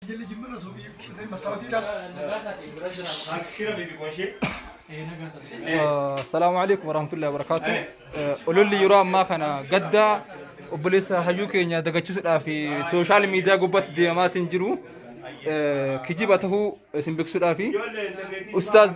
Jilli jimmirra suuqii dhufee mastaawatiidha. Akira bibi koshe. Assalaamu alaikum warahmatullahi wabarakaatu. Ololli yeroo ammaa kana gaddaa obboleessa hayyuu keenya dagachisuudhaaf sooshaal miidiyaa gubbaatti deemaatiin jiru kijiba tahuu isin beeksisuudhaaf Ustaaz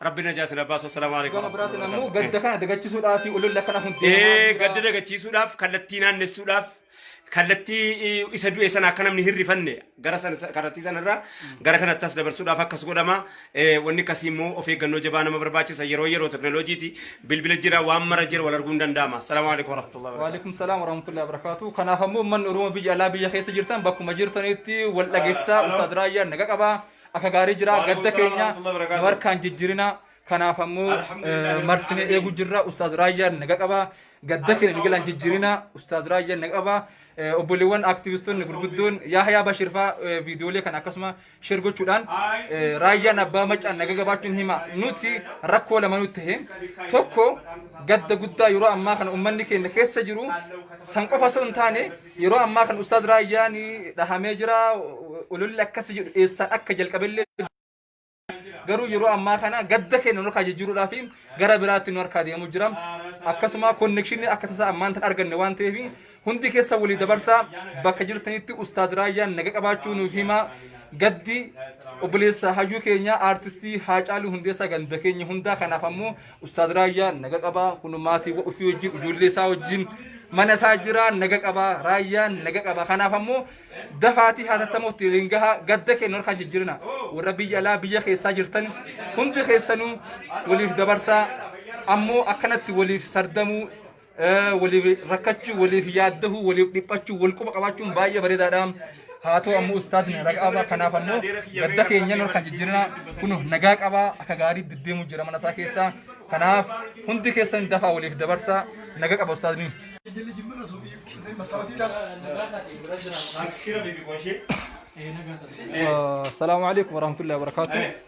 Rabbi najaa sina baasu. Assalaamu alaikum. Gama biraatiin ammoo gadda kana dagachisudhaa fi ololli akkana kun Ee, gadda dagachiisuudhaaf kallattii naannessuudhaaf kallattii eh, isa du'e sana akka namni hin rifanne gara sana kallattii sanarraa gara kanatti as dabarsuudhaaf akkas godhama Eh, wanni akkasii immoo of eeggannoo jabaa nama barbaachisa yeroo yeroo teknooloojiiti bilbila jira waan mara jira wal arguun danda'ama salaamu alaikum warahmatullahi wabarakatuh Waalaikum salaam warahmatullahi wabarakatuh. Kanaaf ammoo uummanni Oromoo biyya alaa biyya keessa jirtan bakkuma jirtanitti wal dhageessaa Ustaad Raayyaan naga qabaa. Akka gaarii jira Waalaikum gadda salaam keenya warahmatullahi nu wabarakatuh. harkaan jijjiirina kanaaf ammoo Alhamdulillah, eh, marsinee rabbil eeguu jirra ustaaz raayyaan naga qaba gadda keenya Alhamdulillah. migilaan jijjiirina ustaaz raayyaan naga qaba Eh, obboleewwan aktivistoonni gurguddoon yaahayaa bashir faa eh, viidiyoolee kana akkasuma sheer gochuudhaan eh, raayyaan abbaa macaan naga qabaachuun hima nuti rakkoo lama nutti ta'e tokko gadda guddaa yeroo ammaa kana ummanni keenya keessa jiru san qofa osoo hin taane Yeroo ammaa kan Ustaaz Raayyaan dhahamee jira. Ololli akkasii jedhu eessaan akka jalqabellee garuu yeroo ammaa kana gadda keenya nu harkaa jijjiiruudhaa fi gara biraatti nu harkaa deemuu jira. Akkasuma konnekshinii akka tasaa ammaan tan arganne waan ta'eef hundi keessa walii dabarsaa bakka jirtanitti Ustaaz Raayyaan naga qabaachuu nuuf himaa gaddi obboleessa hayyuu keenya aartistii Haacaaluu Hundeessaa ganda keenya hundaa kanaaf ammoo Ustaaz Raayyaa naga qabaa kun maatii ofii wajjin ijoollee isaa wajjin mana isaa jiraa naga qabaa Raayyaan naga qabaa kanaaf ammoo dafaatii hatattamuutti waliin gahaa gadda keenya harkaan jijjiirina warra biyya alaa biyya keessaa jirtan hundi keessanuu waliif dabarsaa ammoo akkanatti waliif sardamuu waliif rakkachuu, waliif yaaddahuu, waliif dhiphachuu, wal quba qabaachuun baay'ee bareedaadha. Haa ta'u ammoo ustaatiin raqaabaa kanaaf ammoo gadda keenya kan jijjiirina kun nagaa qabaa akka gaarii deddeemuu jira mana isaa keessaa. Kanaaf hundi keessan dafaa waliif dabarsaa nagaa qaba ustaatiin. Assalaamu alaikum warahmatullahi wabarakatuh.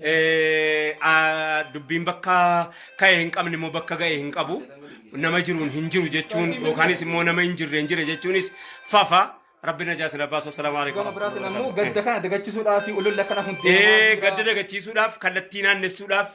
Eh, ah, dubbiin bakka ka'e hin qabne immoo bakka ga'e hin qabu nama jiruun hin jiru jechuun yookaanis immoo nama hin jirre hin jire jechuunis fafa rabbi najaa sila baasu assalaamu alaikum Gama biraatiin ammoo gadda kana dagachisuudhaa fi ololla kana hundee Eh, gadda dagachiisuudhaaf kallattii naannessuudhaaf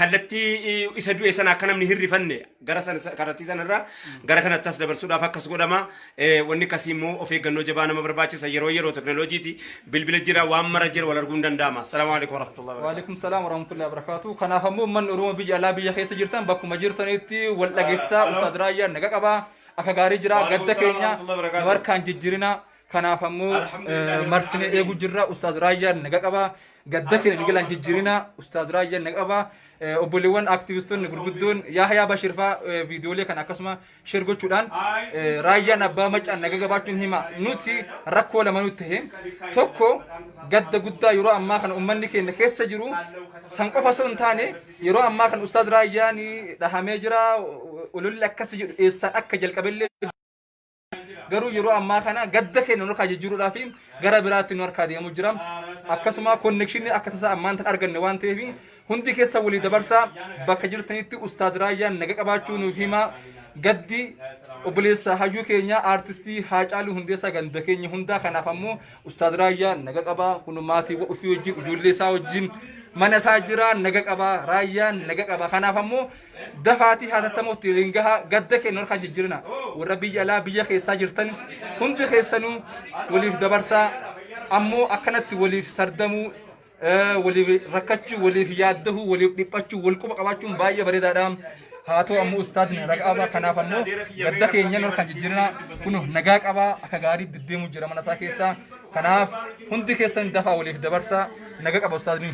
kallattii eh, isa du'e sana akka namni hin rifanne gara san isa- kallattii sana irraa gara kanatti as dabarsuudhaaf akkas godhama. Eh, Wanni akkasii immoo of eeggannoo jabaa nama barbaachisa. Yeroo yeroo teknooloojiiti bilbila jira waan mara jira wal arguun danda'ama. Salaamu alaikum warahmatullahi wabarakatuh. Waalaikum salaam warahmatullahi wabarakatuh. Kanaaf ammoo uummanni Oromoo biyya alaa biyya keessa jirtan bakkuma jirtanitti wal dhageessaa Halo. Ustaad Raayyaan naga qabaa. Akka gaarii jira Waalaikum gadda salaam keenya warahmatullahi wabarakatuh. nu harkaan jijjiirina. Kanaaf ammoo eh, marsinee eeguu jirra. Ustaaz Raayyaan naga qaba. Gadda keenya migilaan jijjiirina. Ustaaz Raayyaan naga qaba. Eh, Obboleewwan aktivistoonni gurguddoon Yaahayaa Bashir faa eh, viidiyoolee kana akkasuma sheer gochuudhaan eh, raayyaan abbaa macaan naga qabaachuun hima. Nuti rakkoo lama nutti ta'e. Tokko gadda guddaa yeroo ammaa kana uummanni keenya keessa jiru san qofa osoo hin taane yeroo ammaa kana Ustaaz Raayyaan dhahamee jira. Ololli akkasii jedhu eessaan akka jalqabellee garuu yeroo ammaa kana gadda keenya nu harkaa jijjiiruudhaa fi gara biraatti nu harkaa deemuu jira. Akkasuma konnekshinii akka tasaa ammaan tan arganne waan ta'eef hundi keessa walii dabarsaa bakka jirtanitti ustaad raayyaan naga qabaachuu nuuf himaa gaddi obboleessa hayyuu keenya aartistii Haacaaluu Hundeessaa ganda keenya hundaa kanaaf ammoo ustaad raayyaa naga qabaa kun maatii ofii wajjin ijoollee isaa wajjin mana isaa jira naga qabaa raayyaan naga qabaa kanaaf ammoo dafaatii haatattamootti waliin gahaa gadda keenya harkaa jijjiirina warra biyya alaa biyya keessaa jirtan hundi keessanuu waliif dabarsaa ammoo akkanatti waliif sardamuu eh, waliif rakkachuu waliif yaaddahuu waliif dhiphachuu wal quba qabaachuun baay'ee bareedaadha haa ta'u ammoo ustaadni nagaa qabaa kanaaf ammoo gadda keenya harkaa jijjiirina kun nagaa qabaa akka gaarii deddeemuu jira mana isaa keessaa kanaaf hundi keessan dafaa waliif dabarsaa nagaa qaba ustaadni.